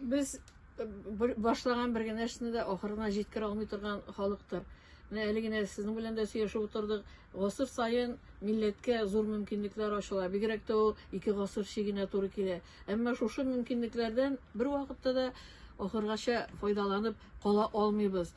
Без башлаган бер генә эшне дә ахырына җиткерә алмый торган халыктыр. Менә әле генә сезнең белән дә сөйләшеп утырдык. Гасыр саен милләткә зур мөмкинлекләр ачыла. Бигрәк тә ул ике гасыр чигенә туры килә. Әмма шушы мөмкинлекләрдән бер вакытта да ахыргача файдаланып кала алмыйбыз.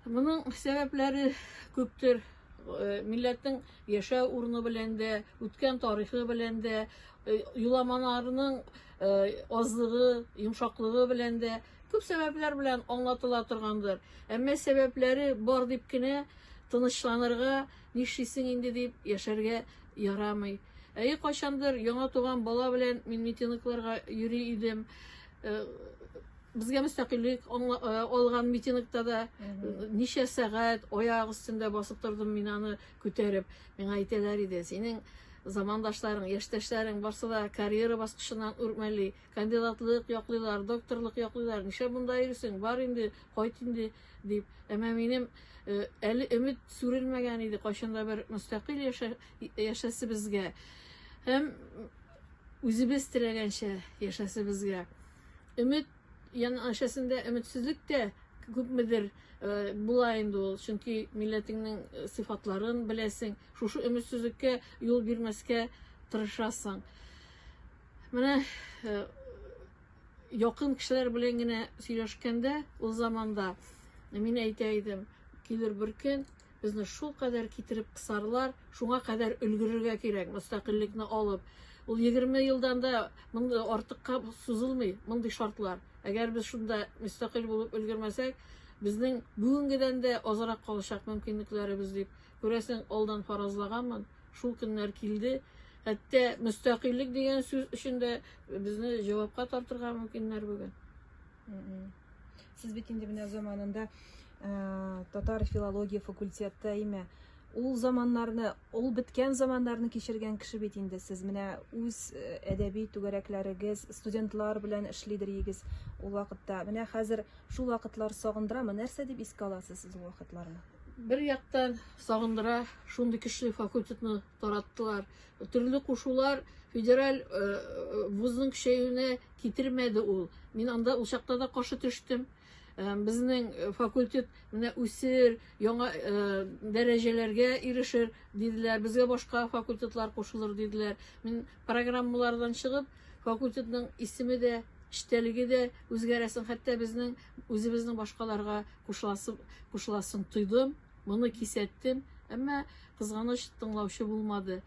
Моның сәбәпләре күптер. Э, милләтнең яшәү урыны белән дә, үткән тарихы белән дә, э, юламаларының Э, азлыгы, йомшаклыгы белән дә күп сәбәпләр белән аңлатыла торгандыр. Әмма сәбәпләре бар дип кенә тынычланырга, нишлисең инде дип яшәргә ярамый. Әйе, кайчандыр яңа туган бала белән мин митингларга йөри идем. Э, безгә мөстәкыйльлек э, алган митингта да ничә сәгать аяк өстендә басып тордым мин аны Күтәреп, миңа әйтәләр иде, синең замандашларың, яшьтәшләрең барсы да карьера баскычыннан үрмәли, кандидатлык яклыйлар, докторлык яклыйлар, нишләп монда йөрисең, бар инде, кайт инде, дип. Әмма минем э, әле өмет сүрелмәгән иде, кайчан да бер мөстәкыйль яшәсебезгә һәм үзебез теләгәнчә яшәсебезгә. Өмет Янәшәсендә өметсезлек тә күпмедер э, була инде ул, чөнки милләтеңнең э, сыйфатларын беләсең, шушы өметсезлеккә юл бирмәскә тырышасың. Менә э, якын кешеләр белән генә сөйләшкәндә, ул заманда мин әйтә идем, килер бер көн, Безне шулкадәр китереп кысарлар, шуңа кадәр өлгерергә кирәк, мөстәкыйльлекне алып. Ул 20 елдан да мондый артыкка сузылмый, мондый шартлар. Әгәр без шунда мөстәкыйль булып өлгермәсәк, безнең бүгенгедән дә азрак калачак мөмкинлекләребез дип, күрәсең, алдан фаразлаганмын. Шул көннәр килде. Хәтта мөстәкыйльлек дигән сүз өчен дә безне җавапка тартырга мөмкиннәр бүген. Сез бит инде менә заманында э, татар филология факультетта име? Ул заманнарны, ул беткән заманнарны кичергән кеше бит инде сез. Менә үз э, әдәби түгәрәкләрегез, студентлар белән эшлидер егез ул вакытта. Менә хәзер шул вакытлар сагындырамы? Нәрсә дип искә аласыз сез ул вакытларны? Бер яктан сагындыра, шундый кеше факультетны тараттылар. Төрле кушулар федераль э, вузның көчәюенә Китермәде ул. Мин анда ул чакта да каршы төштем. Э, безнең э, факультет менә үсер, яңа э, дәрәҗәләргә ирешер диделәр. Безгә башка факультетлар кушылыр диделәр. Мин программалардан чыгып, факультетның исеме дә, эчтәлеге дә үзгәрәсен, хәтта безнең үзебезнең башкаларга кушыласын, кушыласын тойдым, моны кисәттем. Әмма кызганыч тыңлаучы булмады.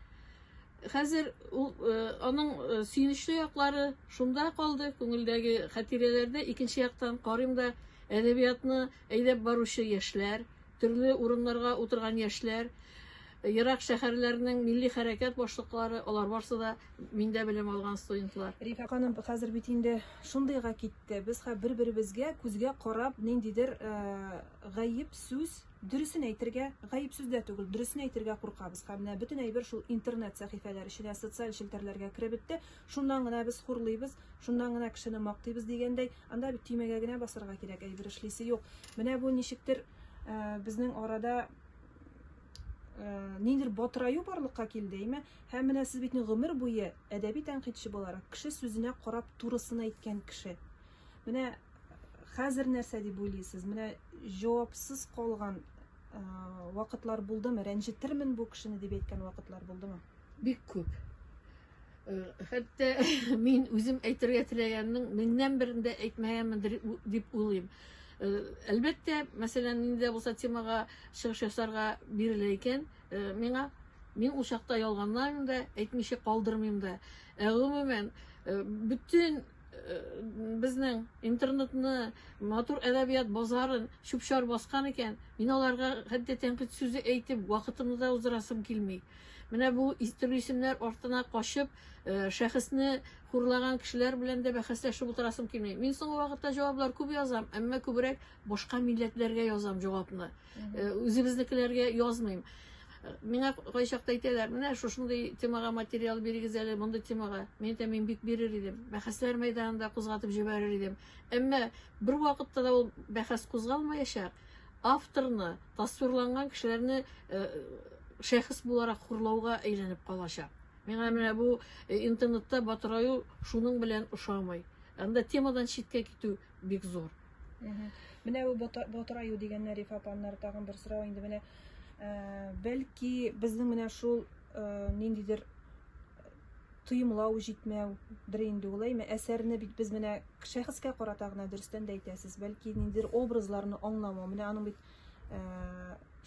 Хәзер ул э, аның э, сөенечле яклары шунда калды, күңелдәге хатирәләрдә икенче яктан карыйм да әдәбиятны әйдәп баручы яшьләр, төрле урыннарга утырган яшьләр, ерак шәһәрләрнең милли хәрәкәт башлыклары, алар барсы да миндә белем алган студентлар. Рифа ханым хәзер бит инде шундыйга китте. Без хә бер-беребезгә күзгә карап ниндидер э, гаеп сүз Дөресен әйтергә, гаеп сүздә түгел, дөресен әйтергә куркабыз. Һәм менә бөтен әйбер шул интернет сәхифәләр эченә, социаль челтәрләргә кереп бетте. Шуннан гына без хурлыйбыз, шуннан гына кешене мактыйбыз дигәндәй, анда бит төймәгә генә басарга кирәк, әйбер эшлисе юк. Менә бу ничектер э, безнең арада э, ниндидер батыраю барлыкка килде, әйме? Һәм менә сез бит гомер буе әдәби тәнкыйтьче буларак, кеше сүзенә карап турысын әйткән кеше. Менә хәзер нәрсә дип уйлыйсыз? Менә җавапсыз калган вакытлар булдымы? Рәнҗетермен бу кешене дип әйткән вакытлар булдымы? Бик күп. Хәтта мин үзем әйтергә теләгәннең меңнән берен дә әйтмәгәнмендер дип уйлыйм. Әлбәттә, мәсәлән, инде булса темага чыгыш ясарга бирелә икән, миңа мин ул чакта ялганламыйм да, әйтмичә калдырмыйм да. Ә гомумән, бөтен безнең интернетны, матур әдәбият базарын чүп-чар баскан икән, мин аларга хәтта тәнкыйть сүзе әйтеп, вакытымны да уздырасым килми. Менә бу төрле исемнәр артына качып, э, шәхесне хурлаган кешеләр белән дә бәхәсләшеп утырасым килми. Мин соңгы вакытта җаваплар күп язам, әмма күбрәк башка милләтләргә язам җавапны. Э, үзебезнекеләргә язмыйм э, миңа кайчакта әйтәләр менә шушындый темага материал бирегез әле мондый темага мин әйтәм мин бик бирер идем бәхәсләр мәйданында кузгатып җибәрер идем әмма бер вакытта да ул бәхәс кузгалмаячак авторны тасвирланган кешеләрне э, шәхес буларак хурлауга әйләнеп калачак миңа менә бу интернетта батыраю шуның белән ошамый анда темадан читкә китү бик зур Менә бу ботыраю дигәннәр Рифа апамнар тагын бер сорау инде менә э, бәлки безнең менә шул э, ниндидер тоемлау җитмәү дер инде ул әйме әсәрне бит без менә шәхескә карата гына дөрестән дә әйтәсез бәлки ниндидер образларны аңламау менә аның бит э,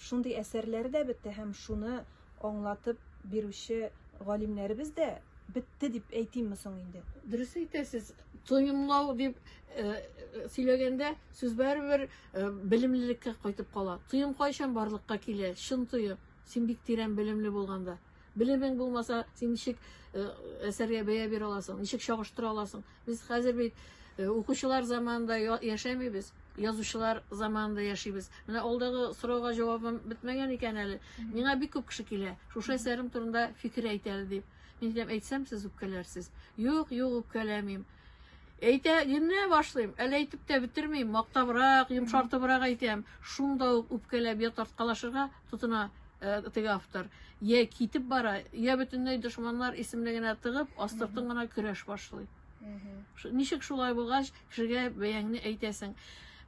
шундый әсәрләре дә бетте һәм шуны аңлатып бирүче галимнәребез дә бетте дип әйтимме соң инде? Дөрес әйтәсез. Тоемлау дип э, э, сөйләгәндә сүз барыбер э, белемлелеккә кайтып кала. Тоем кайчан барлыкка килә? Чын тоем. Син бик тирән белемле булганда. Белемең булмаса, син ничек әсәргә бәя бирә аласың? Ничек чагыштыра аласың? Без хәзер бит э, укучылар заманында яшәмибез, язучылар заманында яшибез. Менә алдагы сорауга җавабым бетмәгән икән әле. Миңа бик күп кеше килә, шушы әсәрем турында фикер әйт әле дип. Мин әйтәм, әйтсәм сез үпкәләрсез. Юк, юк, үпкәләмим. Әйтә, генә башлыйм, әле әйтеп тә бетермим, мактабрак, йомшартыбрак әйтәм. Шунда ук үпкәләп я тарткалашырга, тотына теге автор. Я китеп бара, я бөтенләй дошманнар исемлегенә тыгып, астыртын гына көрәш башлый. Ничек шулай булгач, кешегә бәяңне әйтәсең.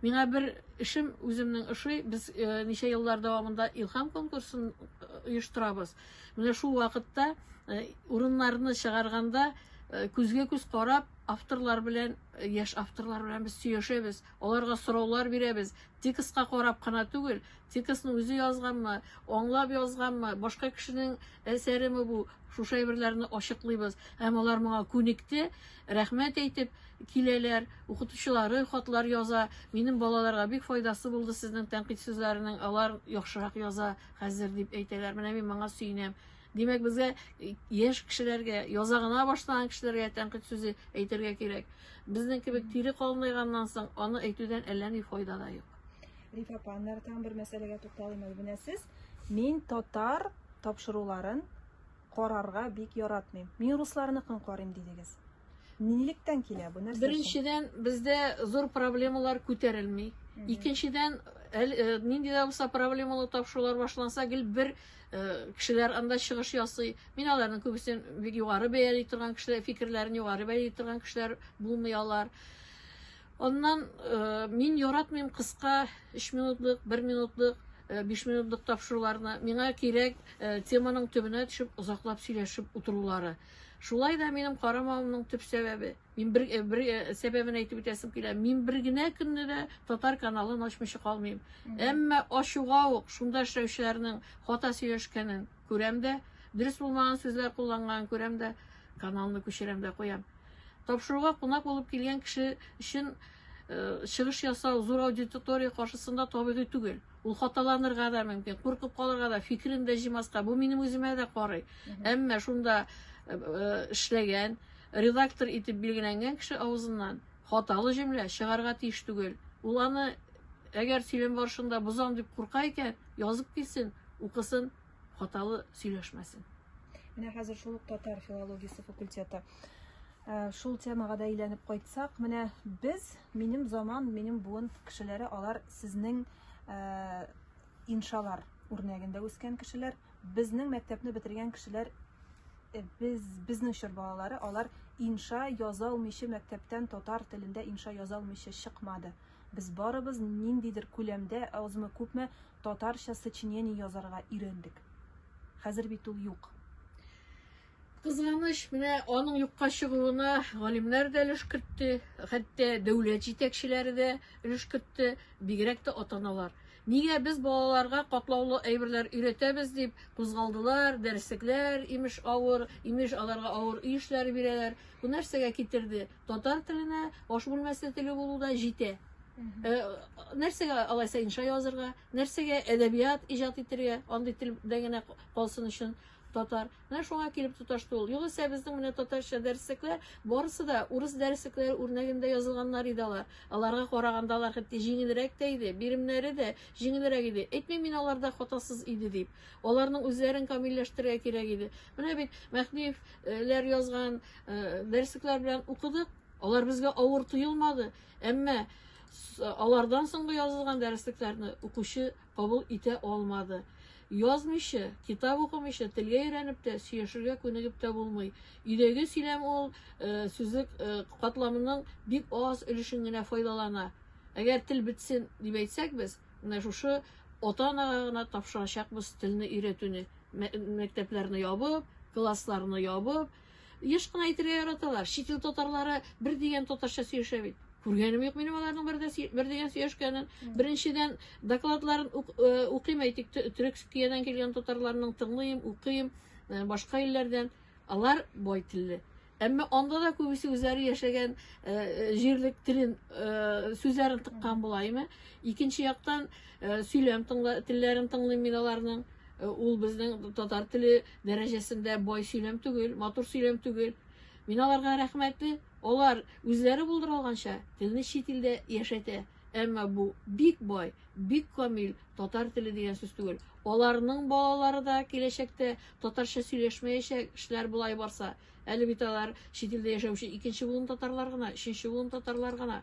Миңа бер эшем үземнең ошый, без э, ничә еллар дәвамында Илхам конкурсын э, оештырабыз. Менә шул вакытта э, урыннарны чыгарганда э, күзгә күз карап, авторлар белән, э, яшь авторлар белән без сөйләшәбез, аларга сораулар бирәбез. Текстка карап кына түгел, Текстны үзе язганмы, аңлап язганмы, башка кешенең әсәреме бу? Шушы әйберләрне ачыклыйбыз. Һәм алар моңа күнекте, рәхмәт әйтеп киләләр, укытучылары хатлар яза. Минем балаларга бик файдасы булды сезнең тәнкыйть сүзләренең, алар яхшырак яза хәзер дип әйтәләр. Менә мин моңа сөенәм. Димәк, безгә яшь кешеләргә, яза гына башлаган кешеләргә тәнкыйть сүзе әйтергә кирәк. Безнең кебек тире калынайганнан соң аны әйтүдән әллә ни файда да юк. Рифа апаннар, там бер мәсьәләгә тукталыйм әле. Менә сез мин татар тапшыруларын карарга бик яратмыйм. Мин русларныкын карыйм дидегез. Нилектән килә бу нәрсә? Беренчедән, бездә зур проблемалар күтәрелми. Икенчедән, э, нинди дә булса проблемалы тапшырулар башланса, гел бер э, кешеләр анда чыгыш ясый. Мин аларның күбесен бик югары бәяли торган кешеләр, фикерләрен югары бәяли торган кешеләр булмый алар. Аннан э, мин яратмыйм кыска 3 минутлык, 1 минутлык, 5 э, минутлык тапшыруларны. Миңа кирәк э, теманың төбенә төшеп озаклап сөйләшеп утырулары. Шулай да минем карамавымның төп сәбәбе, мин бер, бер сәбәбен әйтеп үтәсем килә. Мин бер генә көнне дә татар каналын ачмыйча калмыйм. Әмма ачуга ук шунда эшләүчеләрнең хата сөйләшкәнен Күрәм дә, дөрес булмаган сүзләр кулланган, күрәм дә, каналны күчерәм дә куям. Тапшыруга кунак булып килгән кеше өчен э, чыгыш ясау зур аудитория каршысында табигый түгел. Ул хаталанырга да мөмкин, куркып калырга да, фикерен дә җимаска. Бу минем үземә дә карый. Әмма шунда э, э, эшләгән, редактор итеп билгеләнгән кеше авызыннан Хаталы җөмлә чыгарга тиеш түгел. Ул аны, әгәр сөйләм барышында бозам дип курка икән, язып килсен, укысын, хаталы сөйләшмәсен. Менә хәзер шул ук татар филологиясе факультеты. Ә, шул темага да әйләнеп кайтсак, менә без, минем заман, минем буын кешеләре, алар сезнең ә, Иншалар үрнәгендә үскән кешеләр, безнең мәктәпне бетергән кешеләр Э, без безнең чор балалары алар инша яза алмыйча мәктәптән татар телендә инша яза алмыйча чыкмады без барыбыз ниндидер күләмдә азмы күпме татарча сочинение язарга өйрәндек хәзер бит ул юк Кызганыч, менә аның юкка чыгуына галимнәр дә өлеш кертте, хәтта дәүләт җитәкчеләре дә өлеш кертте, бигрәк тә ата-аналар. Нигә без балаларга катлаулы әйберләр өйрәтәбез дип кузгалдылар, дәреслекләр, имеш, авыр, имеш, аларга авыр өй эшләре бирәләр. Бу нәрсәгә китерде? Татар теленә аш бүлмәсе теле булу да җитә. Э, нәрсәгә алайса инша язырга? Нәрсәгә әдәбият иҗат итергә, андый телдә генә калсын өчен татар. Менә шуңа килеп тоташты ул. Югыйсә безнең менә татарча дәреслекләр барысы да урыс дәреслекләре үрнәгендә язылганнар иде алар. Аларга караганда алар хәтта җиңелрәк тә иде, биремнәре дә җиңелрәк иде. Әйтмим мин аларда хатасыз иде дип. Аларның үзләрен камилләштерергә кирәк иде. Менә бит Мәхмиевләр язган э, дәреслекләр белән укыдык. Алар безгә авыр тоелмады. Әмма Алардан соңгы язылган дәреслекләрне укучы кабул итә алмады. Язмыйча, китап укымыйча, телгә өйрәнеп тә, сөйләшергә күнегеп тә булмый. Өйдәге сөйләм ул э, сүзлек э, катламының бик аз өлешен генә файдалана. Әгәр тел бетсен дип әйтсәк без, менә шушы ата-анага гына тапшырачакбыз телне өйрәтүне. Мәктәпләрне ябып, классларны ябып, Еш кына әйтергә яраталар. Чит ил татарлары бер дигән татарча сөйләшә бит. Күргәнем юк минем аларның бер, бер дигән сөйләшкәнен. Беренчедән докладларын укыйм әйтик, Төркиядән килгән татарларның тыңлыйм, укыйм, э, башка илләрдән. Алар бай телле. Әмма анда да күбесе үзләре яшәгән э, э, җирлек телен э, сүзләрен тыккан була, әйме? Икенче яктан сөйләм тыңла, телләрен тыңлыйм мин аларның. Ул безнең татар теле дәрәҗәсендә бай сөйләм түгел, матур сөйләм түгел. Мин аларга рәхмәтле. Алар үзләре булдыра алганча телне чит илдә яшәтә. Әмма бу бик бай, бик камил татар теле дигән сүз түгел. Аларның балалары да киләчәктә татарча сөйләшмәячәк, эшләр болай барса. Әле бит алар чит илдә яшәүче икенче буын татарлар гына, өченче буын татарлар гына.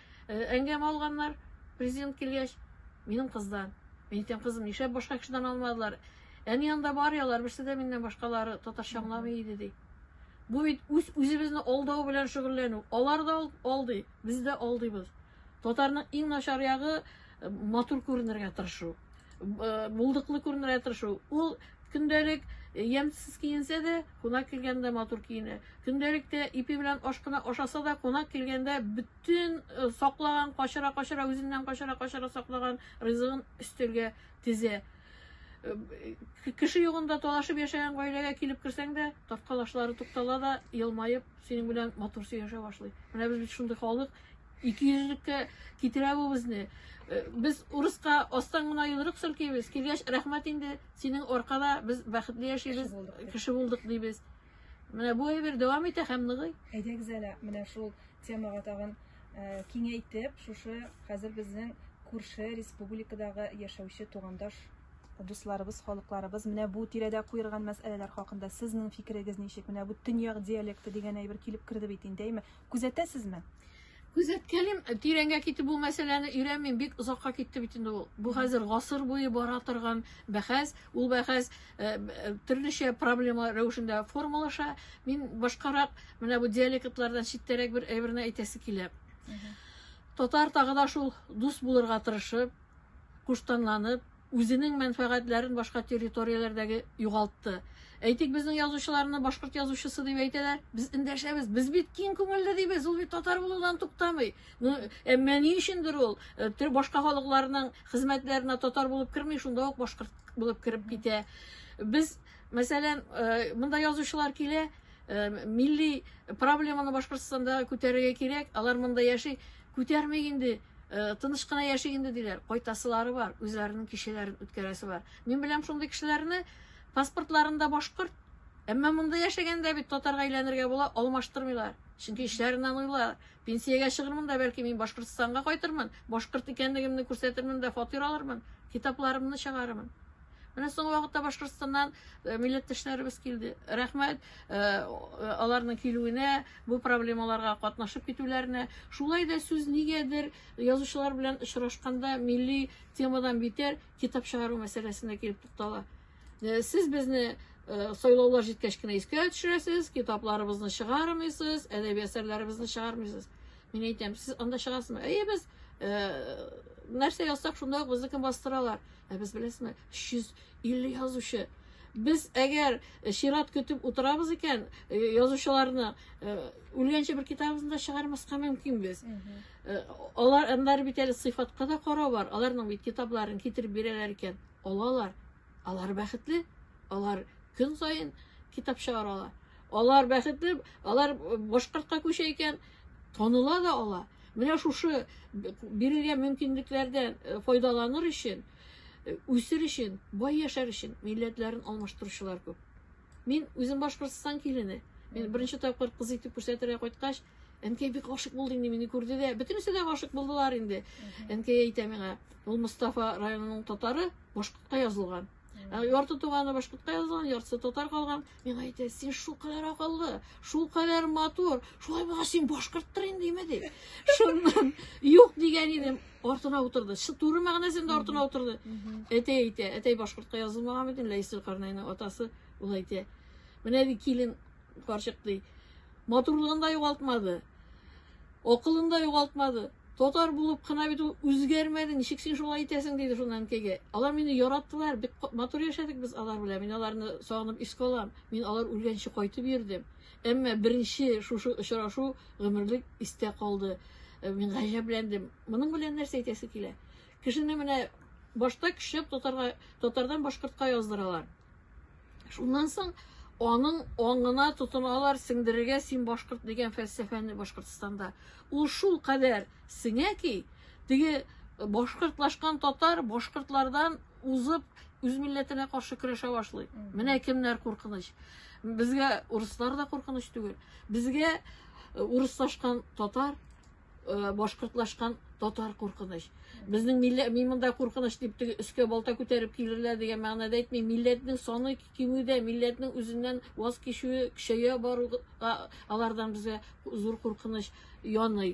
Әңгәмә алганнар, президент килгәч, минем кыздан. Мин әйтәм, кызым, нишләп башка кешедән алмадылар? Әни янында бар ялар, берсе дә миннән башкалары татарча аңламый иде, ди. Бу бит үз үзебезне алдау белән шөгыльләнү. Алар да алдый, без дә алдыйбыз. Татарның иң начар ягы э, матур күренергә тырышу. Э, булдыклы күренергә тырышу. Ул көндәлек ямьсез киенсә дә, Кунак килгәндә матур киенә. Көндәлектә ипи белән аш кына ашаса да, кунак килгәндә бөтен э, саклаган, качыра-качыра, үзеннән качыра-качыра саклаган ризыгын өстәлгә тезә. Э, кеше югында талашып яшәгән гаиләгә килеп керсәң дә, тарткалашлары туктала да, елмаеп, синең белән матур сөйләшә башлый. Менә без бит шундый халык, Икейөзлеккә китерә бу безне. Э, без урыска астан гына йодрык селкибез. Килгәч, рәхмәт инде, синең аркада без бәхетле яшибез, кеше булдык дибез. Менә бу әйбер дәвам итә һәм ныгый. Әйдәгез әле, менә шул темага тагын э, киңәйтеп, шушы хәзер безнең күрше республикадагы яшәүче тугандаш дусларыбыз, халыкларыбыз менә бу тирәдә куерган мәсьәләләр хакында сезнең фикерегез ничек? Менә бу төньяк диалекты дигән әйбер килеп керде бит инде, әйме? Күзәтәсезме? Күзәткәлим, тирәнгә китеп бу мәсьәләне өйрәнмим, бик озакка китте бит инде ул. Бу хәзер гасыр буе бара торган бәхәс, ул бәхәс э, э, төрлечә проблема рәвешендә формалаша. Мин башкарак менә бу диалектлардан читтәрәк бер әйберне әйтәсе килә. Татар тагы да шул дус булырга тырышып, куштанланып, үзенең мәнфәгатьләрен башка территорияләрдәге югалтты. Әйтик, безнең язучыларны башкорт язучысы дип әйтәләр. Без эндәшәбез. Без бит киң күңелле дибез. Ул бит татар булудан туктамый. Ну, әмма ни өчендер ул э, башка халыкларның хезмәтләренә татар булып керми, шунда ук башкорт булып кереп китә. Без, мәсәлән, э, монда язучылар килә, Э, милли проблеманы башкортстанда күтәрергә кирәк алар монда яши күтәрмик инде Э, тыныч кына яшик инде диләр кайтасылары бар үзләренең кичәләрен үткәрәсе бар мин беләм шундый кешеләрне паспортларында башкорт әмма монда яшәгәндә бит татарга әйләнергә була алмаштырмыйлар чөнки эчләреннән уйлар пенсиягә чыгырмын да бәлки мин башкортстанга кайтырмын башкорт икәнлегемне күрсәтермен дә фатир алырмын китапларымны чыгарырмын Менә соңгы вакытта Башкортстаннан э, милләттәшләребез килде. Рәхмәт э, э, аларның килүенә, бу проблемаларга катнашып китүләренә. Шулай да сүз нигәдер язучылар белән очрашканда милли темадан битәр китап чыгару мәсьәләсенә килеп туктала. Сез безне сайлаулар җиткәч кенә искә төшерәсез, китапларыбызны чыгармыйсыз, әдәби әсәрләребезне чыгармыйсыз. Мин әйтәм, сез анда чыгасызмы? Әйе, без нәрсә язсак, шунда ук безнекен бастыралар. Ә без беләсме, 350 язучы. Без әгәр э, чират көтеп утырабыз икән, э, язучыларны э, үлгәнче бер китабыбызны да чыгармаска мөмкин без. Алар аннары бит әле сыйфатка да карау бар. Аларның бит китапларын китереп бирәләр икән, алалар. Алар бәхетле. Алар көн саен китап чыгаралар. Алар бәхетле, алар башкортка күчә икән, тоныла да ала. Менә шушы бирелгән мөмкинлекләрдән э, файдаланыр өчен, э, үсер өчен, бай яшәр өчен милләтләрен алмаштыручылар күп. Мин үзем Башкортстан килене. Мин беренче тапкыр кыз итеп күрсәтергә кайткач, әнкәй бик гашык булды инде мине күрде дә. Бөтенесе дә гашык булдылар инде. Әнкәй әйтә миңа, ул Мустафа районының татары, башкортка язылган. Ә ярты туганы башкортка язылган, яртысы татар калган. Мин әйтә, син шул кадәр акыллы, шул кадәр матур, шулай булса син башкорттыр инде име ди. Шуннан юк дигән идем, артына утырды. Шы туры мәгънәсендә артына утырды. Әтәй әйтә, әтәй башкортка язылмаган бит, Ләйсел Карнайның атасы ул әйтә. Менә ди килен Карчык ди. Матурлыгын да югалтмады. Акылын да югалтмады. Татар булып кына бит ул үзгәрмәде. Ничек син шулай итәсең диде шуннан әнкәйгә. Алар мине яраттылар. Бик матур яшәдек без алар белән. Мин аларны сагынып искә алам. Мин алар үлгәнче кайтып йөрдем. Әмма беренче шушы очрашу гомерлек истә калды. Э, мин гаҗәпләндем. Моның белән нәрсә әйтәсе килә? Кешене менә башта көчләп татарга татардан башкортка яздыралар. Шуннан соң аның аңына тотыналар сеңдерергә син башкорт дигән фәлсәфәне Башкортстанда. Ул шул кадәр сеңә ки, теге башкортлашкан татар башкортлардан узып үз милләтенә каршы көрәшә башлый. Менә кемнәр куркыныч. Безгә урыслар да куркыныч түгел. Безгә э, урыслашкан татар Э, башкортлашкан татар куркыныч безнең милләт мин монда куркыныч дип теге өскә балта күтәреп килерләр дигән мәгънәдә әйтмим милләтнең саны кимүдә милләтнең үзеннән ваз кичүе көчәя баруга алардан безгә зур куркыныч яный